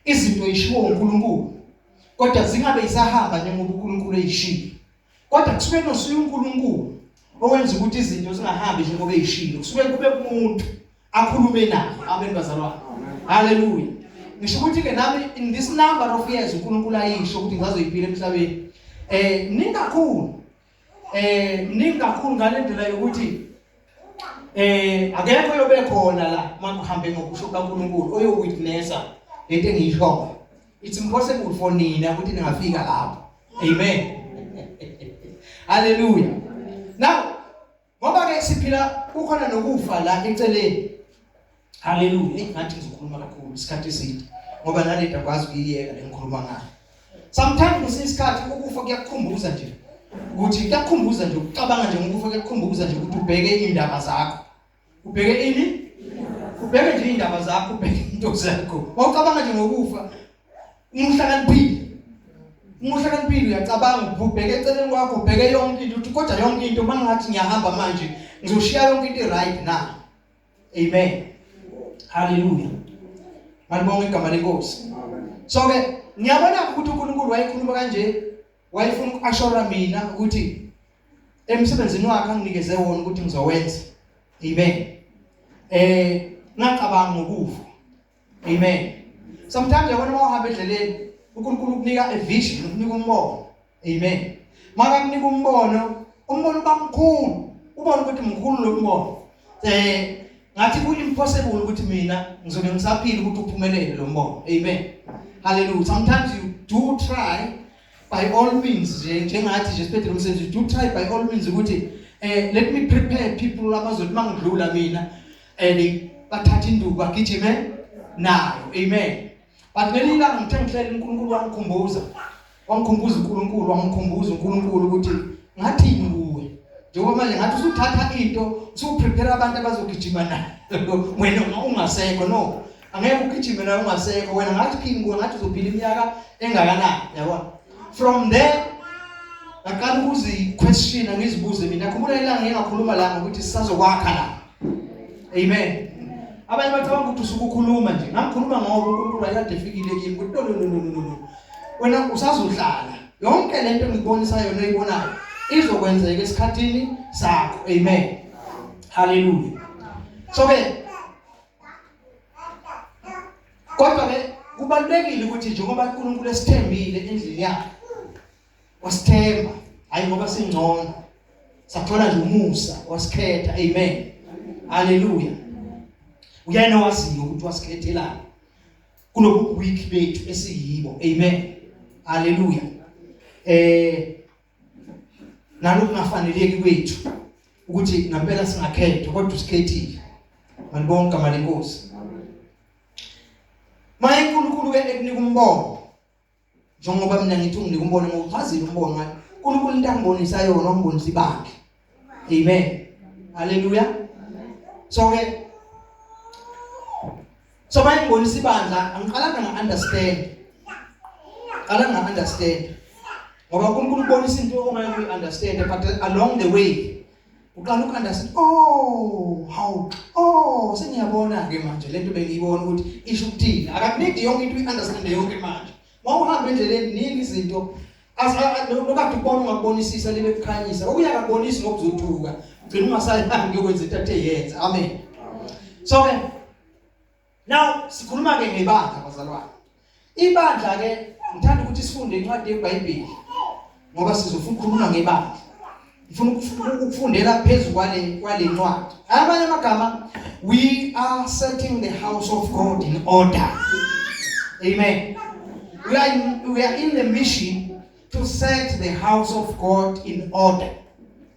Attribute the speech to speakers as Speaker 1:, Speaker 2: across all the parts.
Speaker 1: izinto ezishiwo uNkulunkulu kodwa zingabe isahamba njengoba uNkulunkulu eyishilo kodwa kusuke nosuye uNkulunkulu owenza ukuthi izinto zingahambi njengoba eyishilo kusuke kube kumuntu akhulume naye amen bazalwane haleluya ngisho ukuthi ke nami in this number of years uNkulunkulu ayisho ukuthi ngazoyiphila emhlabeni eh ningakhulu eh mningi kakhulu ngalendlela yokuthi eh akekho yobe khona la makuhambe ngokusho kaNkuluNkulu oyowitnessa lento engiyishoyo it's impossible for nina ukuthi ningafika lapho amen haleluya now Ngoba ke siphila kukhona nokufa la eceleni. Haleluya. Ingathi ngizokhuluma kakhulu isikhathi eside ngoba nale nto akwazi ukuyiyeka lengikhuluma ngayo. Sometimes kwesinye isikhathi ukufa kuyakukhumbuza nje ukuthi kuyakukhumbuza nje ukucabanga nje ngokufa kuyakukhumbuza nje ukuthi ubheke indaba zakho. Ubheke ini? Ubheke nje indaba zakho, ubheke into zakho. Wawucabanga nje ngokufa Umuhlakaniphile. Umuhlakaniphile uyacabanga ubheke eceleni kwakho ubheke yonke into uthi kodwa yonke into mangathi ngiyahamba manje ngizoshiya yonke into right na. Amen. Hallelujah. Malibonga igama lenkosi. So ke ngiyabona ukuthi uNkulunkulu wayekhuluma kanje wayefuna ukuashora mina ukuthi emsebenzini wakhe anginikeze wona ukuthi ngizowenza. Amen. Eh ngacabanga ngokufa. amen sometimes yabona uma uhamba endleleni uNkulunkulu ukunika a vision ukunika umbono amen makakunika umbono umbono uba mkhulu ubona ukuthi mkhulu lo mbono eh ngathi ku impossible ukuthi mina ngizobe ngisaphila ukuthi uphumelele lo mbono amen hallelujah sometimes you do try by all means nje njengathi nje siphethe lo msebenzi you do try by all means ukuthi eh let me prepare people abazothi mangidlula mina and bathatha induku agijime nayo amen but ngelinye ilanga ngithe ngihlela uNkulunkulu wangikhumbuza wangikhumbuza uNkulunkulu wangikhumbuza uNkulunkulu ukuthi ngathi nguwe njengoba manje ngathi usuthatha into usuprepare abantu abazogijima nayo wena ungasekho no angeke ugijime naye ungasekho wena ngathi king kuwe ngathi uzophila iminyaka engakanani yabona from there ngaqala ukuziquestiona ngizibuze mina khumbula ilanga ngingakhuluma la ngokuthi sisazokwakha la amen abanye bacabanga ukuthi usuke ukhuluma nje ngakhuluma ngoba uNkulunkulu wayekade efikile kimi ukuthi no no no no no wena usazohlala yonke lento engibonisa yona oyibonayo izokwenzeka esikhathini sakho amen haleluya so ke kodwa ke kubalulekile ukuthi njengoba uNkulunkulu esithembile endlini yakhe wasithemba hayi ngoba singcono sathola nje umusa wasikhetha amen haleluya uyena waziyo ukuthi wasikhethelani kulobu week bethu esiyibo amen haleluya eh nanokungafaneleki kwethu ukuthi ngampela singakhethwa kodwa usikhethile manibonke amali inkosi maye uNkulunkulu ke ekunika umbono njengoba mina ngithi unginika umbono ngokuchazile umbono ngathi uNkulunkulu into angibonisa yona ongibonisa ibakhe Amen. Haleluya. So ke So manje ngibonisa ibandla, angiqalanga nga understand. Qala nga understand. Ngoba uNkulunkulu ubonisa into ongeke uyi understand but along the way uqala uku understand oh how oh sengiyabona ke manje lento bengiyibona ukuthi isho ukuthini akakunidi yonke into uyi understand yonke manje mawuhamba endleleni nini izinto nokade ubona ungakubonisisa libe kukhanyisa okuya kakubonisi ngokuzothuka gcina ungasayangi yokwenza into athe yenza amen so ke now sikhuluma ke ngebandla bazalwane ibandla ke ngithanda ukuthi sifunde incwadi yeBhayibheli ngoba sizofuna ukukhuluma ngebandla ngifuna ukufundela phezu kwale kwale ncwadi abanye amagama we are setting the house of god in order amen we are in, we are in the mission to set the house of god in order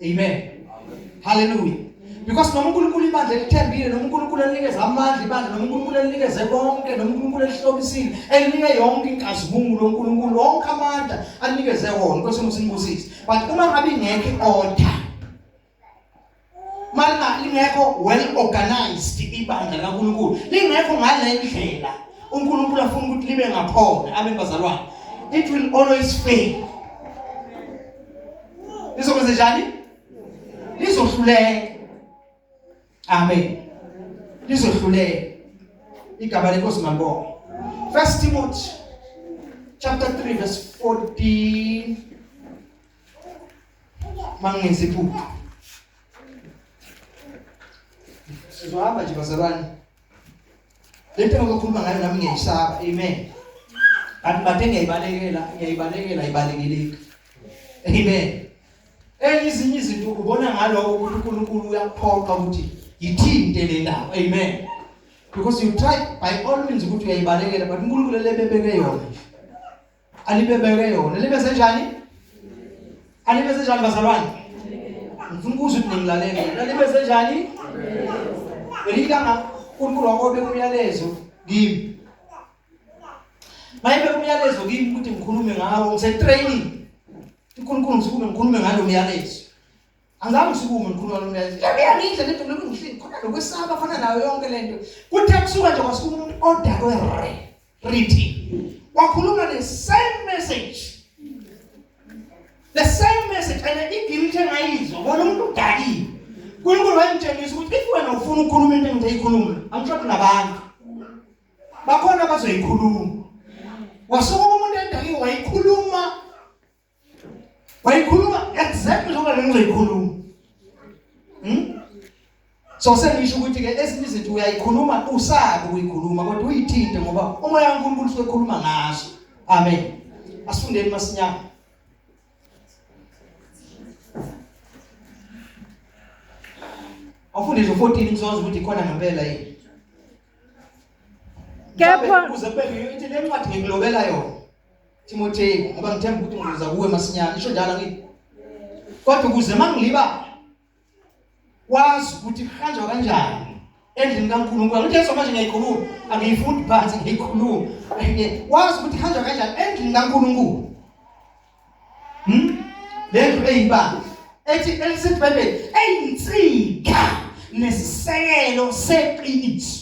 Speaker 1: amen hallelujah because noma uNkulunkulu ibandla elithembile noma uNkulunkulu elinikeza amandla ibandla noma uNkulunkulu elinikeze konke noma uNkulunkulu elihlobisile elinike yonke inkazimulo uNkulunkulu wonke amandla anikeze wona kwesinye usibusisi but uma ngabe ingekho i-order malina lingekho well organized ibandla laNkulunkulu lingekho ngale ndlela uNkulunkulu afuna ukuthi libe ngakhona abebazalwane it will always fail lizokwenze njani lizohluleka Amen. Lizohluleka. Igama lenkosi mabonga. First Timothy chapter 3 verse 14 mangenzi iphupho sizohamba nje bazalwane Lento ngokukhuluma ngayo nami ngiyayisaba. Amen. Kanti bathe ngiyayibalekela, ngiyayibalekela ibalekilika. Amen. Enye izinye izinto ubona ngaloko ukuthi uNkulunkulu uyakuphoqa ukuthi yithinte le ndawo. Amen. Because you try by all means ukuthi uyayibalekela but uNkulunkulu lebebeke yona. alibebeke yona libe senjani alibe senjani bazalwane ngifuna ukuzwa ukuthi ningilalele lalibe senjani elikanga uNkulunkulu wakobe umyalezo kimi mayibe umyalezo kimi ukuthi ngikhulume ngawo ngise training uNkulunkulu ngisukume ngikhulume ngalo myalezo Angabe sikume mkhulu walo mlayezo. Yabuya ngindle lento mina ngishini khona lokwesaba fana nayo yonke lento. Kuthe kusuka nje kwasuka umuntu odakwe re. Rithi. Wakhuluma the same message. The same message and igilithe engayizwa bona umuntu udakiwe. uNkulunkulu wayemtshengisa ukuthi if wena ufuna ukukhuluma into engiyikhuluma angishodi nabantu bakhona abazoyikhuluma wasuka umuntu endakiwe wayikhuluma wayikhuluma exactly njengoba le ngizoyikhuluma hmm? so sengisho ukuthi ke ezinye izinto uyayikhuluma usabi ukuyikhuluma kodwa uyithinte ngoba umoya kaNkulunkulu usuke ekhuluma ngazo amen asifundeni masinyama Afunde nje 14 ngizozwa ukuthi khona ngempela yini. Kepha uze beke ithi le ncwadi ngikulobela yona. Timoteyu ngoba ngithemba ukuthi ngizoza kuwe masinyane isho njalo ngithi kodwa ukuze mangiliba wazi ukuthi kuhanjwa kanjani endlini kaNkulunkulu ukuthi yeso manje ngiyayikhuluma angiyifundi phansi ngiyikhuluma wazi ukuthi kuhanjwa kanjani endlini kaNkulunkulu hm lento eyibanga ethi elisithi bebe eyinsika nesisekelo seqiniso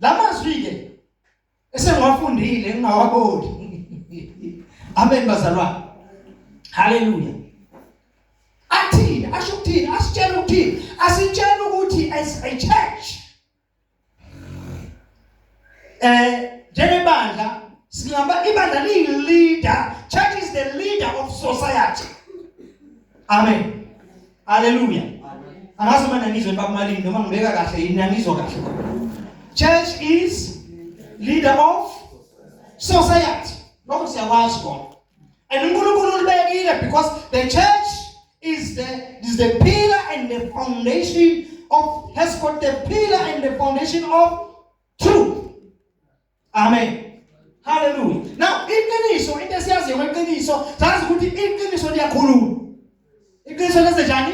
Speaker 1: Lamazwi-ke esengiwafundile ngingawaboni. Amen bazalwane. Haleluya. Athini asho ukuthini asitshela ukuthini asitshela ukuthi as a church eh njengebandla singaba ibandla liyi leader church is the leader of society amen Haleluya. Angazi uma nangizwe bakumalini noma ngibeka kahle yini nangizwa kahle. Church is leader of society. Lokho siyakwazi kona. And uNkulunkulu ulibekile because the church is the is the pillar and the foundation of has got the pillar and the foundation of truth. Amen. Hallelujah. Now iqiniso into esiyaziyo ngeqiniso sazi ukuthi iqiniso liyakhuluma. Iqiniso lenze njani?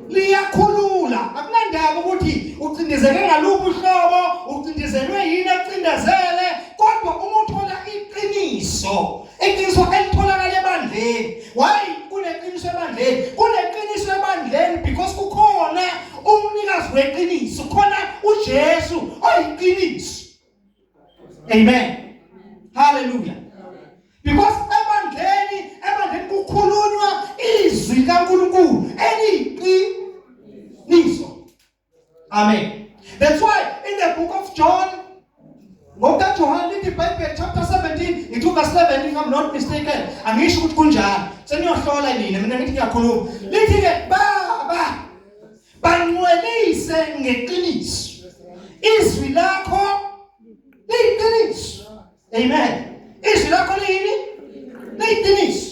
Speaker 1: Liyakhulula. Akunandaba ukuthi ucindezeke ngaluphi uhlobo, ucindezelwe yini acindezele, kodwa uma uthola iqiniso, iqiniso elitholakala ebandleni. Why kuneqiniso ebandleni? Kuneqiniso ebandleni because kukhona umnikazi weqiniso, khona uJesu oyiqiniso. Amen. Hallelujah. Because ebandleni ebandleni kukhulunywa izwi kaNkulunkulu eliqiniso. Amen. That's why in the book of John ngokuka John lithi Bible chapter 17 ngithi verse 11 if I'm not mistaken angisho ukuthi kunjalo seniyohlola nina mina ngithi ngiyakhuluma lithi ke baba Bangcwelise ngeqiniso. Izwi lakho liyiqiniso. Amen. Izwi lakho liyini? Liyiqiniso.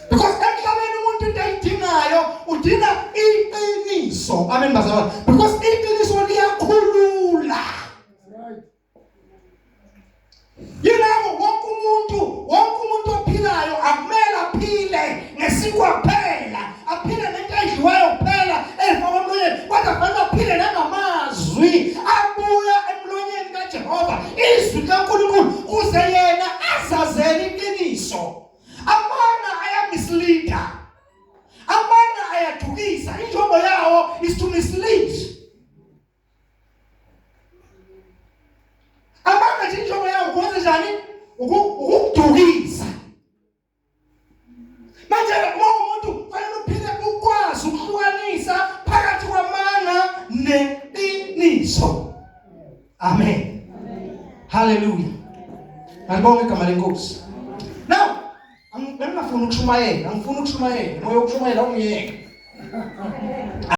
Speaker 1: Because emhlabeni umuntu into ayidingayo udinga iqiniso. Amen bazalwane. Because iqiniso liyakhulula. Yilabo wonke umuntu, wonke umuntu ophilayo akumele aphile ngesikwa kuphela, aphile nento edliwayo kuphela efa komlonyeni, kodwa kufanele aphile nangamazwi abuya emlonyeni kaJehova, izwi likaNkulunkulu kuze yena azazele iqiniso. Amanga ayamisleada. Amanga ayadukisa, injongo yawo is to mislead. abanga nje injongo yawo kwenze njani ukudukisa manje uma umuntu fanele uphile ukwazi ukuhlukanisa phakathi kwamanga neqiniso amen haleluya ngibonga igama lenkosi now ngifuna ukushumayela ngifuna ukushumayela moya ukushumayela ungiyeke